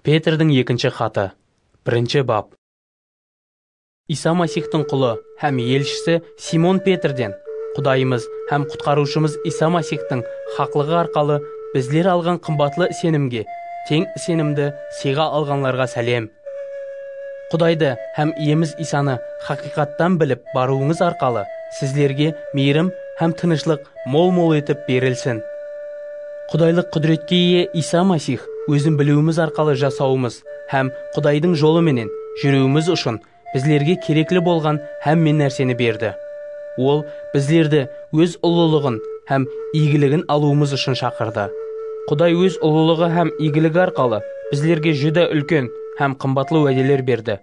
Petrdiń ekinshi xatı, birinshi bap. Iysa Masixtıń qulı hám elshisi Simon Petrden, Qudayımız hám Qutqarıwshımız Iysa Masixtıń haqlıǵı arqalı bizler alǵan qımbatlı isenimge teń isenimdi sıyǵa alǵanlarǵa sálem. Qudaydı hám Iyemiz Iysanı haqıyqattan bilip barıwıńız arqalı sizlerge miyrim hám tınıshlıq Mol-mol etip berilsin. Qudaylıq qúdiretke iye Iysa Masix ózin biliwimiz arqalı jasawımız hám Qudaydıń jolı menen júriwimiz ushın bizlerge kerekli bolǵan hámme nárseni berdi. Ol bizlerdi Óz ullılıǵın hám iygiligin alıwımız ushın shaqırdı. Quday Óz ullılıǵı hám iygiligi arqalı bizlerge júdá úlken hám qımbatlı wádeler berdi.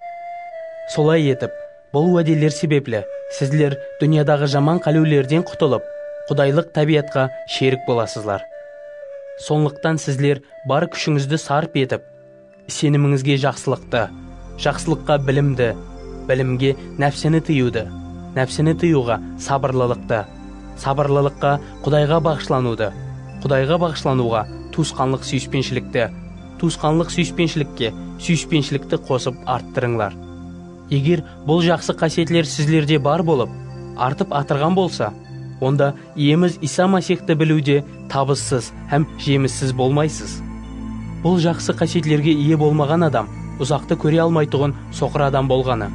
Solay etip. Bul wádeler sebepli sizler dúnyadaǵı jaman qálewlerden qutılıp, qudaylıq tábiyatqa sherik bolasızlar. Sonlıqtan sizler bar kúshińizdi sarp etip, isenimińizge jaqsılıqtı, jaqsılıqqa bilimdi, bilimge nápsini tıyıwdı, nápsini tıyıwǵa sabırlılıqtı, sabırlılıqqa Qudayǵa baǵıshlanıwdı, Qudayǵa baǵıshlanıwǵa tuwısqanlıq súyispenshilikti, tuwısqanlıq súyispenshilikge súyispenshilikti qosıp arttırıńlar. Eger bul jaqsı qásiyetler sizlerde bar bolıp, artıp atırǵan bolsa, onda Iyemiz Iysa Masixti biliwde tabıssız hám jemissiz bolmaysız. Bul jaqsı qásiyetlerge iye bolmaǵan adam uzaqtı kóre almaytuǵın soqır adam bolǵanı,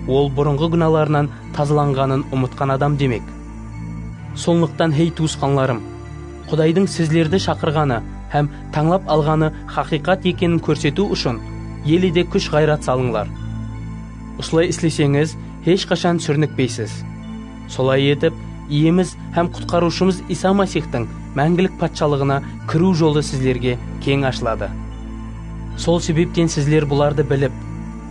ol burınǵı gúnalarınan tazalanǵanın umıtqan adam demek. Sonlıqtan, hey tuwısqanlarım! Qudaydıń sizlerdi shaqırǵanı hám tańlap alǵanı haqıyqat ekenin kórsetiw ushın ele de kúsh-ǵayrat salıńlar. Usılay isleseńiz, hesh qashan súrnikpeysiz. Solay etip, Iyemiz hám Qutqarıwshımız Iysa Masixtıń máńgilik Patshalıǵına kiriw jolı sizlerge keń ashıladı. Sol sebepten sizler bulardı bilip,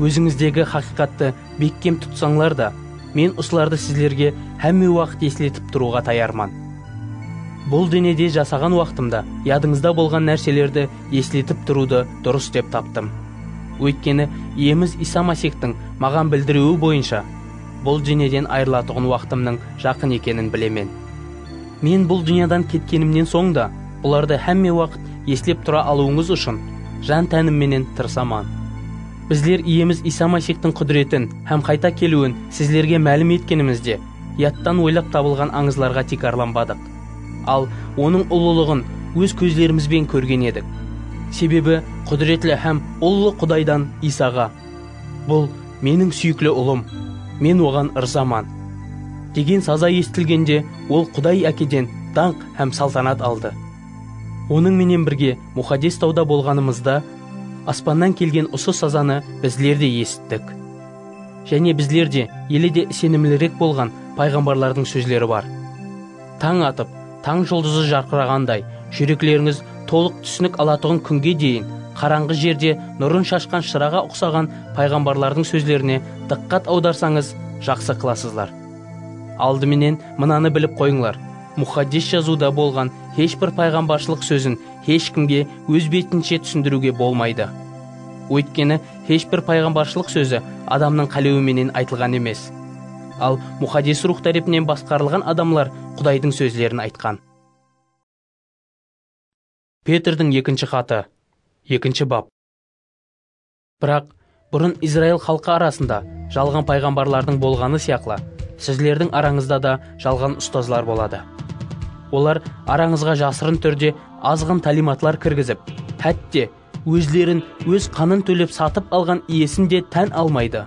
ózińizdegi haqıyqattı Bekkem tutsańlar da, Men usılardı sizlerge hámme waqıt esletip turıwǵa tayarman. Bul denede jasaǵan waqtımda yadıńızda bolǵan nárselerdi esletip turıwdı durıs dep taptım. Óytkeni, Iyemiz Iysa Masixtıń maǵan bildiriwi boyınsha, bul dúnyeden ayırılatuǵın waqtımnıń jaqın ekenin bilemen. Men bul dúnyadan ketkenimnen soń da bulardı hámme waqıt eslep tura alıwıńız ushın jan-tánimmenenen tırısaman. Bizler Iyemiz Iysa Maysixtıń qúdiretin hám qayta keliwin sizlerge málim etkenimizde, yadtan oylap tabılǵan ańızlarǵa tiykarlanbadıq. Al, Onıń ullılıǵın óz kózlerimizben kórgen edik. Sebebi qúdiretli hám ullı Qudaydan Iysaǵa, Bul, Meniń súyikli Ullım, Men Oǵan ırzaman! degen saza esitilgende Ol Quday Ákeden dańq hám saltanat aldı. Onıń menen birge Muxaddes tawda bolǵanımızda, aspannan kelgen usı sazanı bizler de esittik. Jáne bizler de, ele de isenimlirek bolǵan payǵambarlardıń sózleri bar, Tań atıp, tań juldızı jarqıraǵanday, júreklerińiz tolıq túsinik alatuǵın kúnge deyin qarańǵı jerde nurın shashqan shıraǵa uqsaǵan payǵambarlardıń sózlerine dıqqat awdarsańız, jaqsı qılasızlar. Aldı menen mınanı bilip qoyıńlar, Muxaddes Jazıwda bolǵan hesh bir payǵambarshılıq sózin hesh kimge óz betinshe túsindiriwge bolmaydı. Óytkeni, hesh bir payǵambarshılıq sózi adamnıń qálewi menen aytılǵan emes. Al, Muxaddes Ruwx tárepinen basqarılǵan adamlar Qudaydıń sózlerin aytqan. Petrdiń ekinshi xatı, ekinshi bap. Biraq, burın Izrail xalqı arasında jalǵan payǵambarlardıń bolǵanı sıyaqlı, sizlerdiń arańızda da jalǵan ustazlar boladı. Olar arańızǵa jasırın túrde azǵın tálimatlar kirgizip, hátte, ózlerin óz qanın tólep satıp alǵan iyesin de tán almaydı.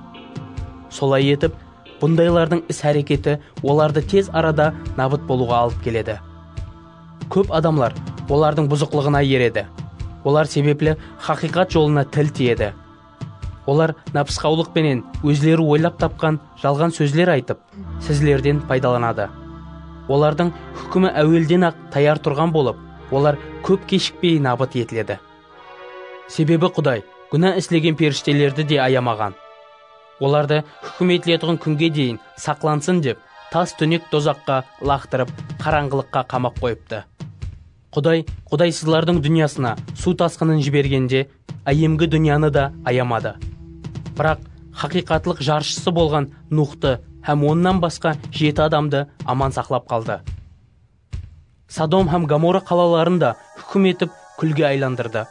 Solay etip, bundaylardıń is-háreketi olardı tez arada nabıt bolıwǵa alıp keledi. Kóp adamlar olardıń buzıqlıǵına eredi. Olar sebepli haqıyqat jolına til tiyedi. Olar nápısqawlıq penen ózleri oylap tapqan jalǵan sózler aytıp, sizlerden paydalanadı. Olardıń húkimi áwelden-aq tayar turǵan bolıp, olar kóp keshikpey nabıt etiledi. Sebebi Quday gúna islegen perishtelerdi de ayamaǵan. Olardı húkimetletuǵın kúnge deyin saqlansın dep, tas túnek dozaqqa ılaqtırıp, qarańǵılıqqa qamap qoyıptı. Quday qudaysızlardıń dúnyasına suw tasqının jibergende áyemgi dúnyanı da ayamadı. Biraq, haqıyqatlıq jarshısı bolǵan Nuxtı hám onnan basqa jeti adamdı aman saqlap qaldı. Sodom hám Gomora qalaların da húkim etip kúlge aylandırdı.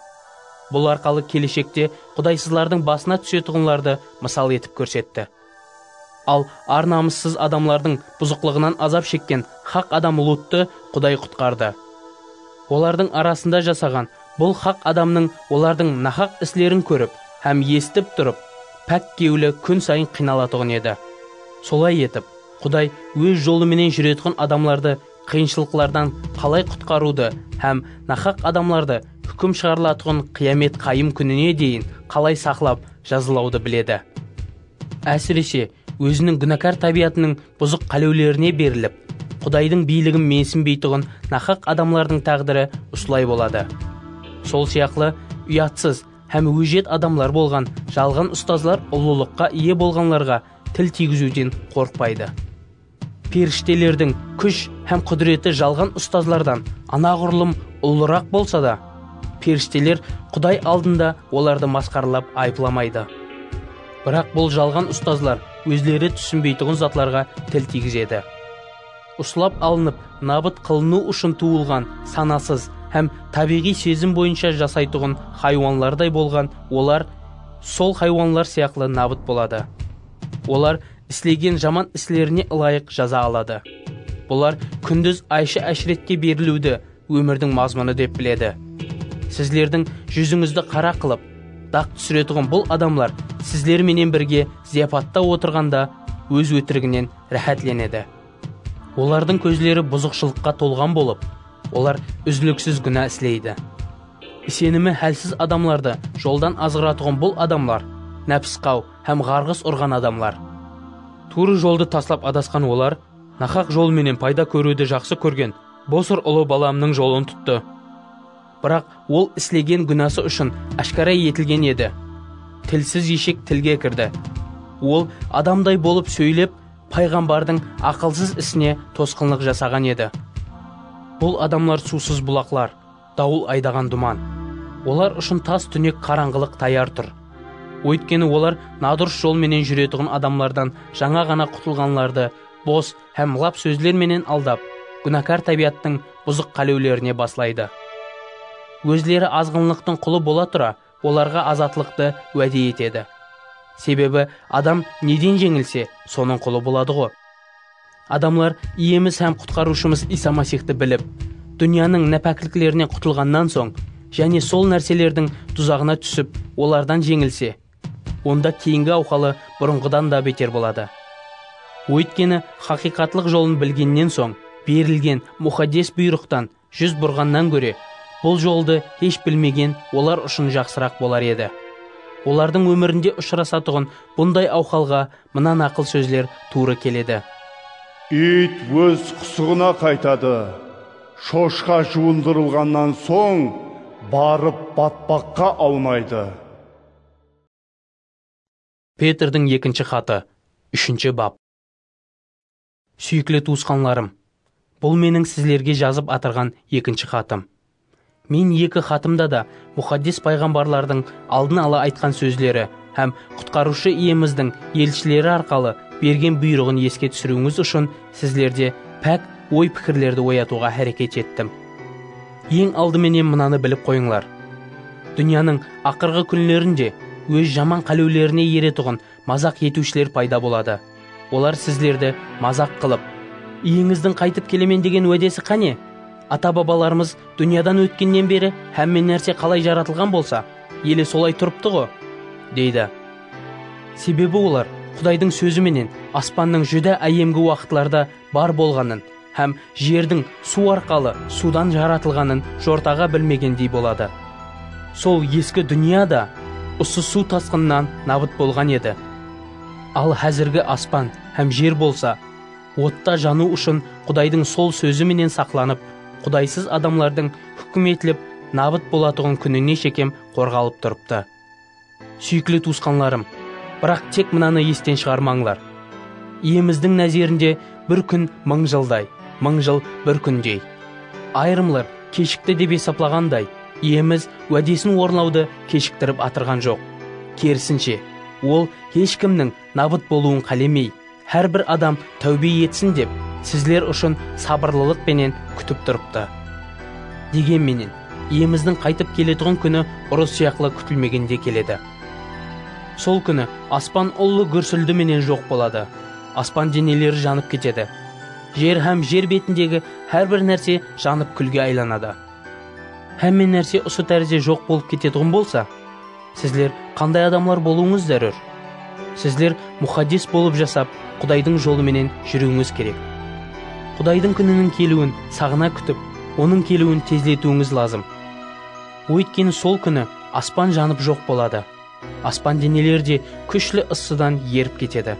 Bul arqalı keleshekte qudaysızlardıń basına túsetuǵınlardı mısal etip kórsetti. Al, ar-namıssız adamlardıń buzıqlıǵınan azap shekken haq adam Luttı Quday qutqardı. Olardıń arasında jasaǵan bul haq adamnıń olardıń nahaq islerin kórip hám esitip turıp, pák kewli kún sayın qıynalatuǵın edi. Solay etip, Quday Óz jolı menen júreyatqan adamlardı qıyınshılıqlardan qalay qutqarıwdı hám naqhaq adamlardı húkim shıǵarılatuǵın qıyamet qayım kúnine deyin qalay saqlap jazalawdı biledi. Ásirese, óziniń gúnakar tábiyatınıń buzıq qálewlerine berilip, Qudaydıń biyligin mensinbeytuǵın naqhaq adamlardıń táǵdiri usılay boladı. Sol sıyaqlı, uyatsız hám ójiyat adamlar bolǵan jalǵan ustazlar ullılıqqa iye bolǵanlarǵa Til tiygiziwden qorqpaydı. Perishtelerdiń kúsh hám qúdireti jalǵan ustazlardan anaǵurlım ullıraq bolsa da, perishteler Quday aldında olardı masqaralap ayıplamaydı. Biraq bul jalǵan ustazlar ózleri túsinbeytuǵın zatlarǵa til tiygizedi. uslap alınıp nabıt qılınıw ushın tuwılǵan sanasız hám tábiyǵıy sezim boyınsha jasaytuǵın haywanlarday bolǵan olar sol haywanlar sıyaqlı nabıt boladı. Olar islegen jaman islerine ılayıq jaza aladı. Bular kúndiz aysha-áshretke beriliwdi ómirdiń mazmunı dep biledi. Sizlerdiń júzińizdi qara qılıp, daq túsiretuǵın bul adamlar sizler menen birge zıyapatta otırǵanda óz ótiriginen ráhátlenedi. Olardıń kózleri buzıqshılıqqa tolǵan bolıp, olar úziliksiz gúna isleydi. Isenimi hálsiz adamlardı joldan azǵıratuǵın bul adamlar nápisqaw hám ǵarǵıs urǵan adamlar. Tuwrı joldı taslap adasqan olar nahaq jol menen payda kóriwdi jaqsı kórgen bosır ulı balamnıń jolın tuttı. Biraq ol islegen gúnası ushın áshkara etilgen edi. Tilsiz eshek tilge kirdi. Ol adamday bolıp sóylep, payǵambardıń aqılsız isine tosqınlıq jasaǵan edi. Bul adamlar suwsız bulaqlar, dawıl aydaǵan duman. Olar ushın tas túnek qarańǵılıq tayar tur. Óytkeni olar nadurıs jol menen júretuǵın adamlardan jańa ǵana qutılǵanlardı bos, hám lap sózler menen aldap, gúnakar tábiyattıń buzıq qálewlerine baslaydı. Ózleri azǵınlıqtıń qulı bola tura, olarǵa azatlıqtı wáde etedi. Sebebi adam neden jeńilse, sonıń qulı boladıǵo. Adamlar Iyemiz hám Qutqarıwshımız Iysa Masixtı bilip, dúnyanıń nápákliklerinen qutılǵannan soń, jáne sol nárselerdiń duzaǵına túsip, olardan jeńilse, onda keyingi awxalı burınǵıdan da beter boladı. Óytkeni, haqıyqatlıq jolın bilgennen soń, berilgen muxaddes buyrıqtan júz burǵannan góre, bul joldı hesh bilmegen olar ushın jaqsıraq bolar edi. Olardıń ómirinde ushırasatuǵın bunday awxalǵa mına naqıl sózler tuwrı keledi. Iyt óz qusıǵına qaytadı, shoshqa juwındırılǵannan soń, barıp batpaqqa awnaydı. Petrdiń ekinshi xatı, úshinshi bap. Súyikli tuwısqanlarım, bul meniń sizlerge jazıp atırǵan ekinshi xatım. Men eki xatımda da Muxaddes payǵambarlardıń aldın ala aytqan sózleri hám Qutqarıwshı Iyemizdiń elshileri arqalı bergen buyrıǵın eske túsiriwińiz ushın sizlerde pák oy-pikirlerdi oyatıwǵa háreket ettim. Eń aldı menen mınanı bilip qoyıńlar, dúnyanıń aqırǵı kúnlerinde óz jaman qálewlerine eretuǵın mazaq etiwshiler payda boladı. Olar sizlerdi mazaq qılıp, Iyeńizdiń qaytıp kelemen degen wádesi qáne? Ata-babalarımız dúnyadan ótkennen beri hámme nárse qalay jaratılǵan bolsa, ele solay turıptı-ǵo! deydi. Sebebi olar Qudaydıń sózi menen aspannıń júdá áyemgi waqıtlarda bar bolǵanın, hám jerdiń suw arqalı suwdan jaratılǵanın jortaǵa bilmegendey boladı. Sol eski dúnya da usı suw tasqınınan nabıt bolǵan edi. Al házirgi aspan hám jer bolsa, otta janıw ushın Qudaydıń sol sózi menen saqlanıp, qudaysız adamlardıń húkim etilip nabıt bolatuǵın kúnine shekem qorǵalıp turıptı. Súyikli tuwısqanlarım, biraq tek mınanı esten shıǵarmańlar, Iyemizdiń názerinde bir kún mıń jılday, mıń jıl bir kúndey. Ayırımlar keshikti dep esaplaǵanday, Iyemiz wádesin orınlawdı keshiktirip atırǵan joq. Kerisinshe, Ol hesh kimniń nabıt bolıwın qálemey. Hár bir adam táwbe etsin dep, sizler ushın sabırlılıq penen kútip turıptı. Degen menen, Iyemizdiń qaytıp keletuǵın kúni urıs sıyaqlı kútilmegende keledi. Sol kúni aspan ullı gúrsildi menen joq boladı, aspan deneleri janıp ketedi, jer hám jer betindegi hár bir nárse janıp kúlge aylanadı. Hámme nárse usı tárizde joq bolıp ketetuǵın bolsa, Sizler qanday adamlar bolıwıńız zárúr? Sizler muxaddes bolıp jasap, Qudaydıń jolı menen júriwińiz kerek. Qudaydıń kúniniń keliwin saǵına kútip, Onıń keliwin tezletiwińiz lazım. Óytkeni sol kúni aspan janıp joq boladı, aspan deneleri de kúshli ıssıdan erip ketedi.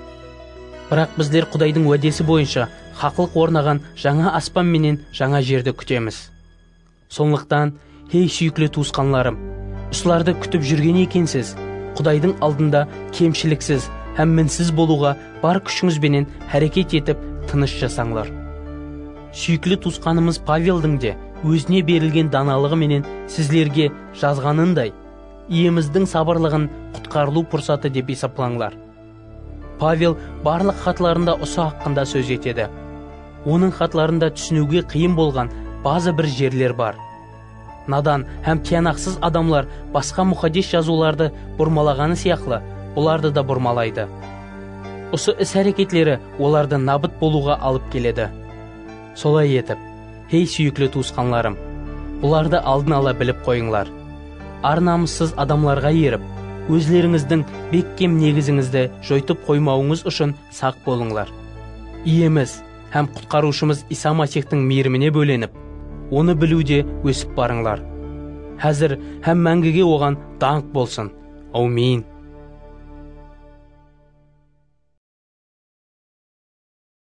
Biraq bizler Qudaydıń wádesi boyınsha haqlıq ornaǵan jańa aspan menen jańa jerdi kútemiz. Sonlıqtan, hey súyikli tuwısqanlarım, usılardı kútip júrgen ekensiz, Qudaydıń aldında kemshiliksiz hám minsiz bolıwǵa bar kúshińiz benen háreket etip, tınısh jasańlar. Súyikli tuwısqanımız Paveldiń de ózine berilgen danalıǵı menen sizlerge jazǵanınday, Iyemizdiń sabırlıǵın qutqarılıw pursatı dep esaplańlar. Pavel barlıq xatlarında usı haqqında sóz etedi. Onıń xatlarında túsiniwge qıyın bolǵan bazı bir jerler bar. Nadan hám tiyanaqsız adamlar basqa Muxaddes Jazıwlardı burmalaǵanı sıyaqlı, bulardı da burmalaydı. Usı is-háreketleri olardı nabıt bolıwǵa alıp keledi. Solay etip, hey súyikli tuwısqanlarım, bulardı aldın ala bilip qoyıńlar, ar-namıssız adamlarǵa erip, ózlerińizdiń bekkem negizińizdi joytıp qoymawıńız ushın saq bolıńlar. Iyemiz hám Qutqarıwshımız Iysa Masixtıń miyrimine bólenip, Onı biliwde ósip barıńlar. Házir hám máńgige Oǵan dańq bolsın! Áwmin!